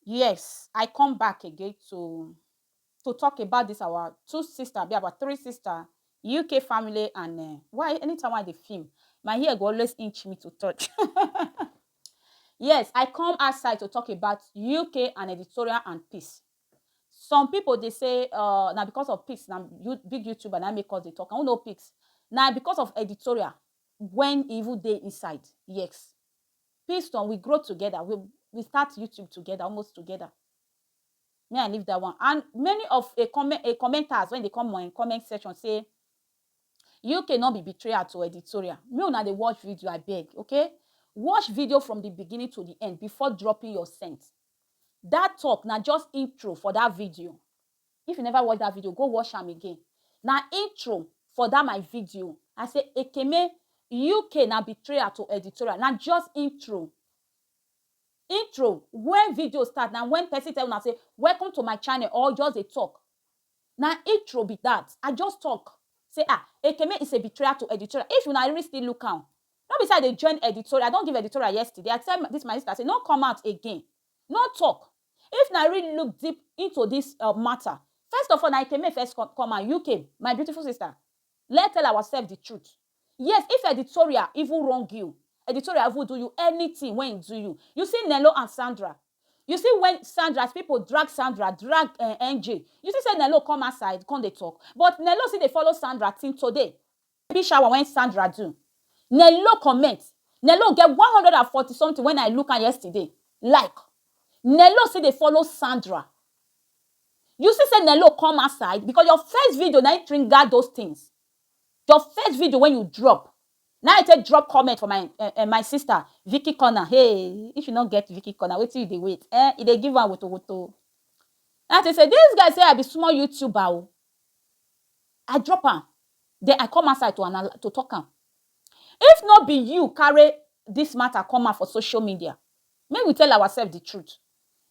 Yes I come back again to to talk about this our two sister abi our three sister UK family and uh, why anytime I dey film my hair go always inch me to touch. yes I come outside to talk about UK and editorial and peace. Some people dey say uh, na because of peace na you, big YouTuber na make us dey talk I don't know peace na because of editorial when evil dey inside yes Kingston, we grow together, we we start YouTube together, almost together. Me, I leave that one. And many of a comment a commenters when they come on comment section say you cannot be betrayal to editorial. Me una dey watch video, I beg, okay? Watch video from the beginning to the end before dropping your scent. That talk na just intro for that video. If you never watch that video go watch am again na intro for that my video I say Ekeme UK na betrayal to editorial na just intro intro when video start na when person tell una say welcome to my channel or just dey talk na intro be that I just talk say ah Ekeme is a betrayal to editorial if una really still look am no be say I dey join editorial I don give editorial yesterday I tell this my sister say no come out again no talk If na real look deep into this um matter, first of all na Ekeme first come come and UK my beautiful sister let tell ourselves the truth yes if editorial even wrong you editorial even do you anything when e do you you see Nello and Sandra you see when Sandra as people drag Sandra drag uh, eh, NJ you see say Nello come outside come dey talk but Nello still dey follow Sandra till today Baby shower wen Sandra do. Nello comment Nello get one hundred and forty something wen I look am yesterday like Nello still dey follow Sandra you see say Nello come outside because your first video na im trigger those things your first video wen you drop na im I take drop comment for my eh my sister Vicky corner hey if you no get Vicky corner wetin you dey wait eh e dey give am wotowoto na im I take say this girl say I be small youtuber o I drop am den I come outside to anal to talk am. If no be you carry dis matter come out for social media, make we tell ourselves the truth,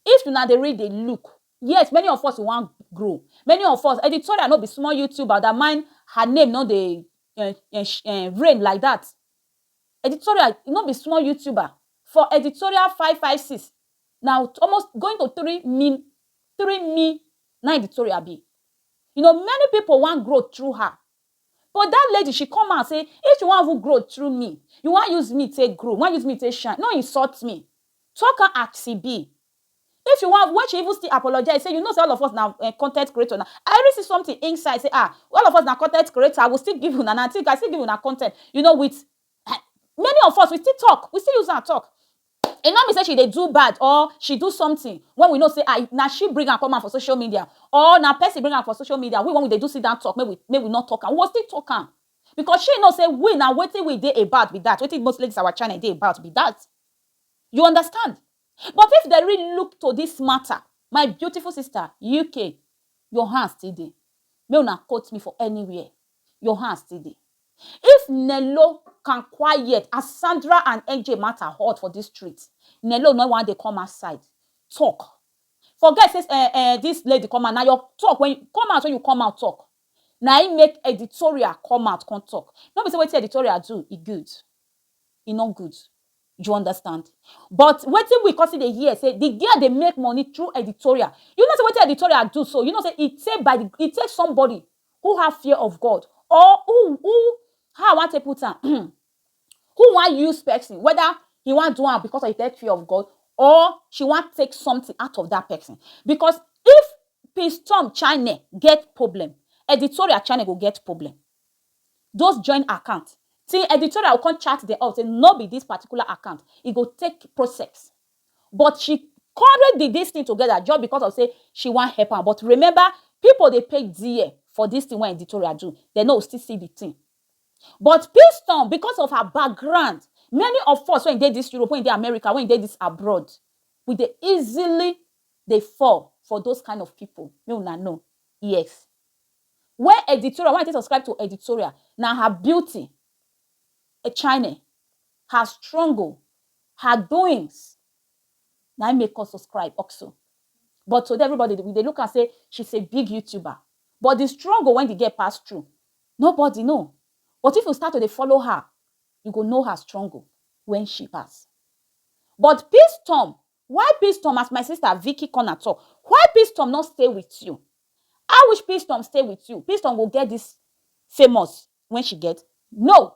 if una dey really dey look, yes many of us wan grow, many of us, Editorial no be small YouTuber dat mine her name no dey um reign like dat, Editorial no be small YouTuber, for Editorial five five six na almost going to three mil through me na im the tori abi you know many people wan grow through her but that lady she come out say if you wan even grow through me you wan use me take grow you wan use me take shine no insult me talk am as e be if you wan when she even still apologize say you know say all of us na um con ten t creator na I even see something inside say ah all of us na con ten t creator I will still give una na I still give una con ten t you know with many of us we still talk we still use am talk e no mean say she dey do bad or she do something when we know say ah na she bring am come out for social media or na person bring am for social media we when we dey do sit down talk make we make we no talk am we go still talk am because she know say we na wetin we dey about be that wetin most ladies our channel dey about be that you understand but if dem really look to this matter my beautiful sister UK your hand still dey make una quote me for anywhere your hand still dey if nello can quiet as sandra and nj matter hot for this street nello no wan dey come outside talk forget say eh eh this lady come out na your talk when come out when you come out talk na im make editorial come out come talk no be say wetin editorial do e good e no good you understand but wetin we come still dey hear say the girl dey make money through editorial you know say wetin editorial do so you know say e take by the e take somebody who have fear of God or who who how I want to put am who want use person whether he want do am because of the fear of God or she want take something out of that person because if Peace Tom China get problem editorial China go get problem those join account till editorial will come chat them out say no be this particular account e go take process But she carry di dis tin togeda just bicos of say she wan help am. But remember, pipo dey pay dear for dis tin wey Editoria do, dem no go still see di tin. But Piston, bicos of her background, many of us wey dey dis Europe, wey dey America, wey dey dis abroad, we dey easily dey fall for those kain of pipo, make una know. Yes. Wen Editoria, wen I take subscribe to Editoria, na her beauty, echine, her struggle, Her doings na im make us subscribe oxo but today everybody we dey look am say she's a big youtuber but the struggle wen the girl pass through nobody know but if you start to dey follow her you go know her struggle wen she pass but Peacetom why Peacetom as my sister Vicky Corner talk why Peacetom no stay with you I wish Peacetom stay with you Peacetom go get this famous wen she get no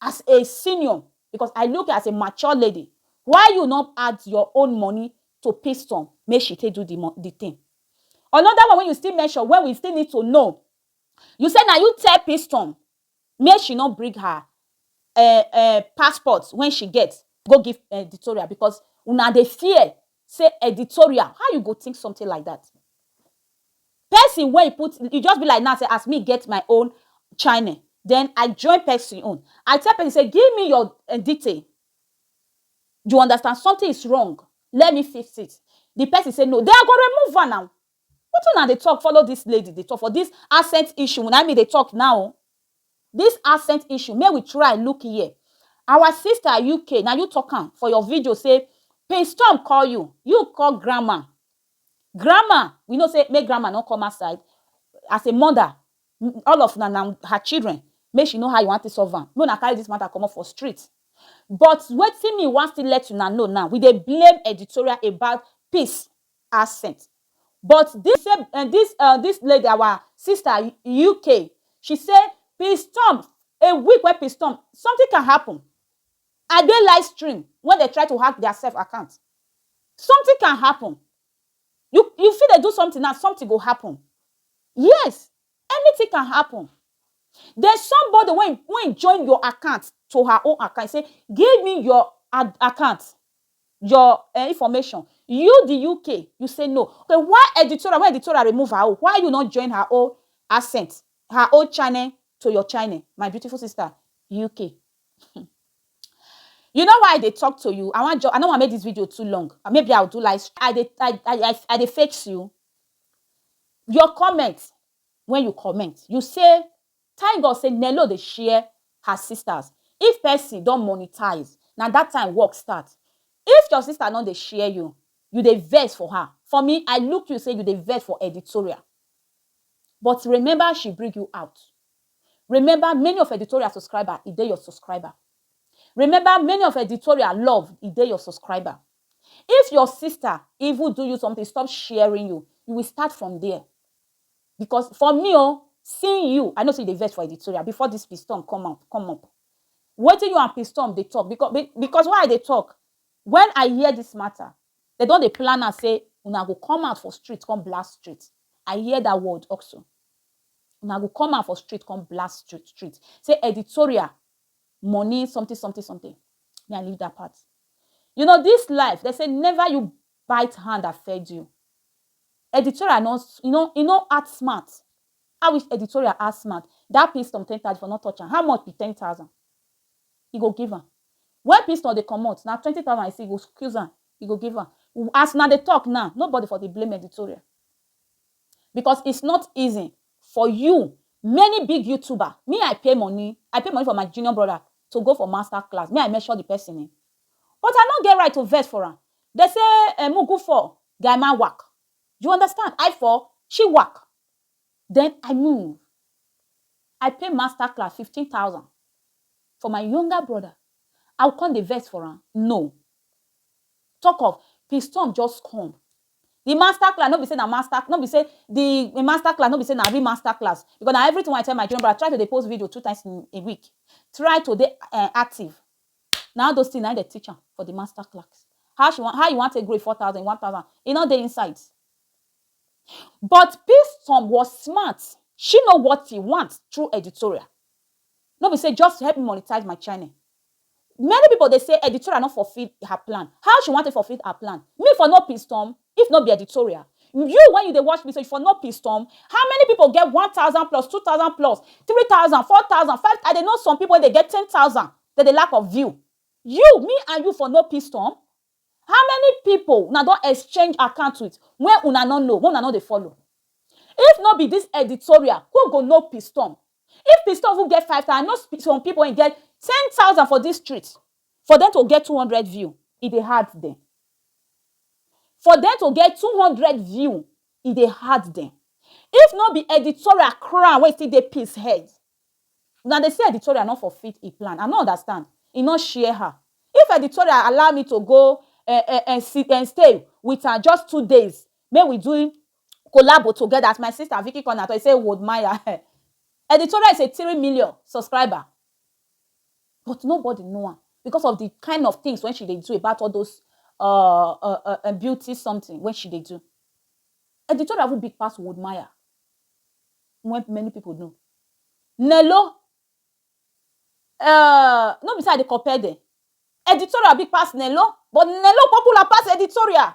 As a senior because I look you as a mature lady why you no add your own money to piston make she take do the the thing. Another one wey you still mention wey we still need to know you say na you tell piston make she no bring her um um passport wey she get go give editorial because una dey fear say editorial how you go think something like that Person wey e put e just be like now say as me get my own channel then I join person own I tell person say give me your um detail you understand something is wrong let me fix it the person say no then I go remove am now wetin una dey talk follow this lady dey talk for this accent issue na him me dey talk now o this accent issue make we try look here our sister UK na you talk am for your video say Prince Tom call you you call grandma Grandma, we know say make grandma no come outside as a mother all of una na her children make she know how you wan take solve am make una carry this matter comot for street but wetin me wan still let una know now we dey blame editorial about peace absent but this same um this um this lady our sister UK she say peace storm a week wey peace storm something can happen. I dey live stream when dem try to hack their self account something can happen you you fit dey do something now something go happen yes anything can happen there's somebody wey wey join your account to her own account e say give me your ad account your um information you the uk you say no okay why editorial when editorial remove her own why you no join her own accent her own channel to your channel my beautiful sister uk You know why I dey talk to you? I want I don't want make this video too long. Uh, maybe I'll do like I dey I I I dey fix you. Your comment when you comment, you say thank God say Nello dey share her sisters. If person don't monetize, now that time work start. If your sister not dey share you, you dey vex for her. For me, I look you say you dey vex for editorial. But remember, she bring you out. Remember many of editorial subscriber e dey your subscriber Remember many of editorial love e dey your subscriber If your sister even do you something stop sharing you you will start from there Because for me o seeing you I know say you dey vex for editorial before this pistorm come out come up Wetin you and pistorm dey talk because because why I dey talk when I hear this matter dem don dey plan am say una go come out for street come blast street I hear that word also Una go come out for street come blast street say editorial money something something something me I leave that part you know this life they say never you bite hand that fed you editorial no you know e no act smart I wish editorial act smart that piston ten thousand for not touch am how much be ten thousand e go give am when piston dey comot na twenty thousand I see e go squeeze am e go give am as una dey talk now nobody for dey blame editorial. Because it's not easy for you many big youtuber me I pay money I pay money for my junior brother to go for master class me I measure the person eh but I no get right to vex for am they say eh mugu for guy man wak you understand I for she wak then I move I pay master class fifteen thousand for my younger brother I will come dey vex for am no talk of pinstorm just come The master class no be say na master no be say the master class no be say na real master class because na everything wey I tell my junior brother try to dey post video two times in a week try to dey um active na all those things na him dem teach am for the master class how she wan how you wan take grow a four thousand a one thousand e no dey inside but Piston was smart she know what he want through editorial no be say just help me monetize my channel Many people dey say editorial no fulfill her plan, how she wan take fulfill her plan? Me for no pistom if no be editorial, you when you dey watch me so you for no pistom, how many people get one thousand plus, two thousand plus, three thousand, four thousand, five, I dey know some people wey dey get ten thousand dem dey lack of view, you, me and you for no pistom? How many people una don exchange account with wey una no know, wey una no dey follow? If no be this editorial who go no pistom? If pistor even get five thousand, I know sp some pipu wey get ten thousand for dis street, for dem to get two hundred view, e dey hard dem. For dem to get two hundred view, e dey hard dem. If no be editorial crown wey still dey peace head, una dey see editorial no for fit e plan, I no understand, e no share her. If editorial allow me to go um um um sit um stay wit am just two days, Make we do collabo together as my sister Vicky Corner talk, e say Wold Maya eh. Editorial is a three million subscriber but nobody know am because of the kind of things wey she dey do about all those um beauty something wey she dey do. Editorial even big pass Wold Maya wey many people know. Nello um no be say I dey compare dem, Editorial big pass Nello but Nello popular pass Editorial.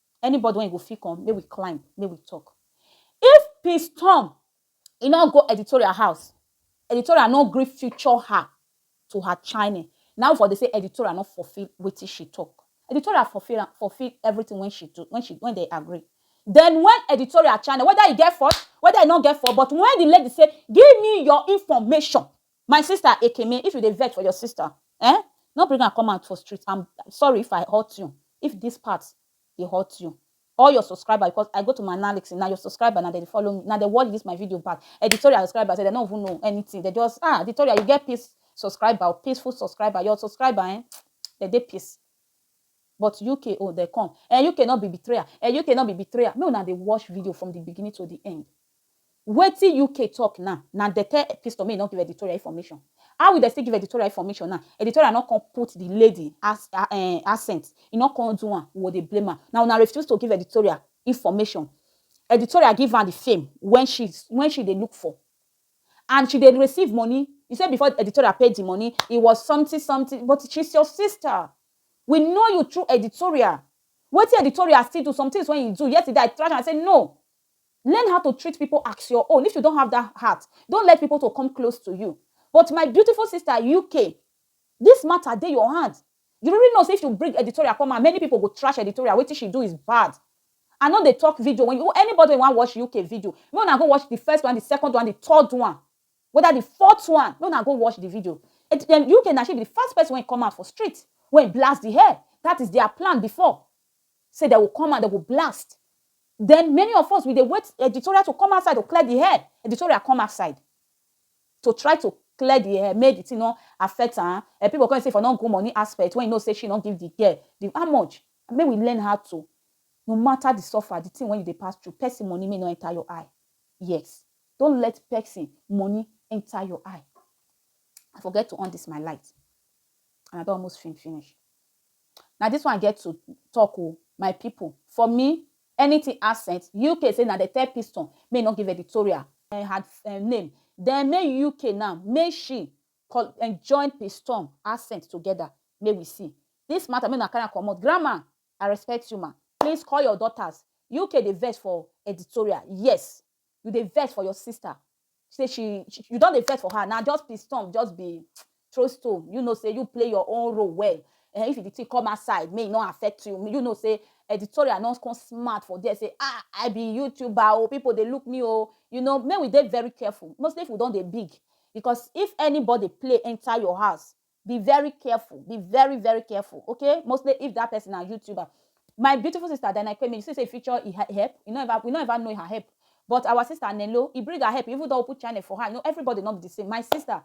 Anybody wen go fit come make we climb make we talk if peace tom e no go editorial house editorial no gree feature her to her chine na we for dey say editorial no fulfill wetin she talk editorial fulfill am fulfill everything wen she do wen she wen dey agree then wen editorial chine whether e get fault whether e no get fault but wen the lady say give me your information My sister Ekeme if you dey vex for your sister ehn no bring am come out for street am sorry if I hurt you if this part dey hurt you all your subscriber because I go to my analysis na your subscriber na dem dey follow me na dem watch this my video back editorial subscriber sef dem no even know anything dem just ah editorial you get peace subscriber o peaceful subscriber your subscriber ehn dem dey peace but UK own dem come ehn UK no be betrayer ehn UK no be betrayer make una dey watch video from the beginning to the end Wetin UK talk now na dem tell Piston make e no give editorial information. How e dey still give editorial information now, editorial no come put the lady accent, e no come do am, we go dey blame am. Na una refuse to give editorial information. Editorial give am the fame when she when she dey look for and she dey receive money. You say before editorial pay the money, it was something something but she's your sister. We know you through editorial. Wetin editorial still do, some things wey e do, yesterday I trash am say no, Learn how to treat people ax your own if you don have that heart don't let people to come close to you but my beautiful sister UK this matter dey your hand you really know say if you bring editorial come out many people go trash editorial wetin she do is bad I no dey talk video when you anybody wan watch UK video make una go watch the first one the second one the third one whether the fourth one make una go watch the video UK na she be the first person wey come out for street wey blast the hair that is their plan before Say dem go come and dem go blast. Den many of us we dey wait editorial to come outside to clear di air, editorial come outside to try to clear di air make di tin no affect am, um pipo come dey say e for no go money aspect wen you know say she no give di girl di how much? Make we learn how to no mata di suffer di tin wen you dey pass through pesin money make e no enter your eye, yes don't let pesin money enter your eye. I forget to on dis my light and I don almost fin finish. Na this one I get to talk o my people for me anything accent UK say na dem tell Piston make e no give editorial um her um name then make UK now make she call um join Piston accent together make we see this matter make una carry am comot grandma I respect you ma please call your daughters UK dey vex for editorial yes you dey vex for your sister say she, she you don dey vex for her na just be storm just be throw stone you know say you play your own role well eh, if the thing come outside may e no affect you you know say editorial no come smart for there say ah i be youtuber oh people dey look me oh you know may we dey very careful mostly if we don dey big because if anybody play enter your house be very careful be very very careful okay mostly if that person na youtuber my beautiful sister Dana Kwemi you see say feature e help you no ever we no ever know her help but our sister Nelo e bring her help even though put channel for her you know everybody not be the same my sister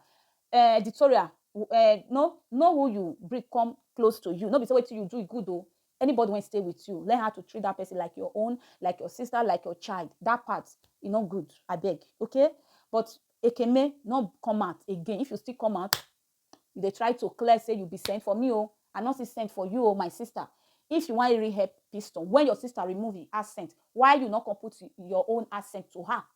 uh, editorial uh, no know who you bring come close to you no be say wetin you do e good o Anybody wey stay with you, learn how to treat that person like your own, like your sister, like your child. That part, e no good, abeg, okay? But Ekeme, no come out again. If you still come out, you dey try to clear say you be sent for me o. Oh. I no see sent for you o, oh, my sister. If you wan really help Piston, when your sister remove him accent, why you no come put your own accent to her?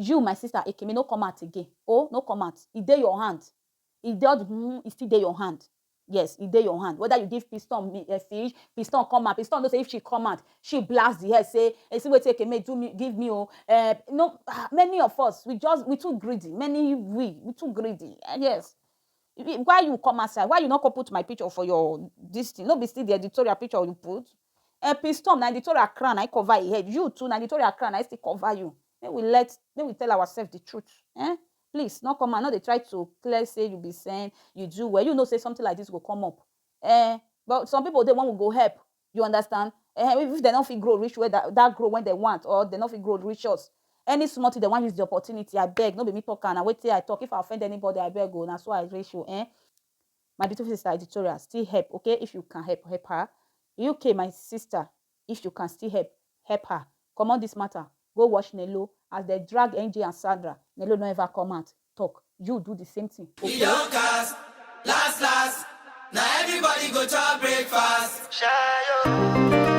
You my sister Ekeme no come out again oh no come out e dey your hand e dey all the humm e still dey your hand yes e dey your hand whether you give piston fish piston come out piston know say if she come out she blast the head say e see wetin Ekeme do me give me oh eh no ah many of us we just we too greedy many we we too greedy eh yes why you come outside why you no come put my picture for your this thing no be still the editorial picture you put eh piston na editorial crown na him cover him head you too na editorial crown na him still cover you Make we let make we tell ourself the truth eh please no come out no dey try to clear say you be saint you do well you know say something like this go come up eh but some people dey when we go help you understand eh even if dem no fit grow reach where that that grow when dem want or dem no fit grow reach us any small thing dem wan use the opportunity abeg no be me talk am na wetin I talk if I offend anybody abeg o na so I reach o eh my beautiful sister editorial still help okay if you can help help her UK my sister If you can still help, help her comot this matter go watch Nelo as dem drag NJ and Sandra, Nelo no ever come out talk, you do the same thing E okay. don cast, last last, na everybody go chop breakfast. Shayo.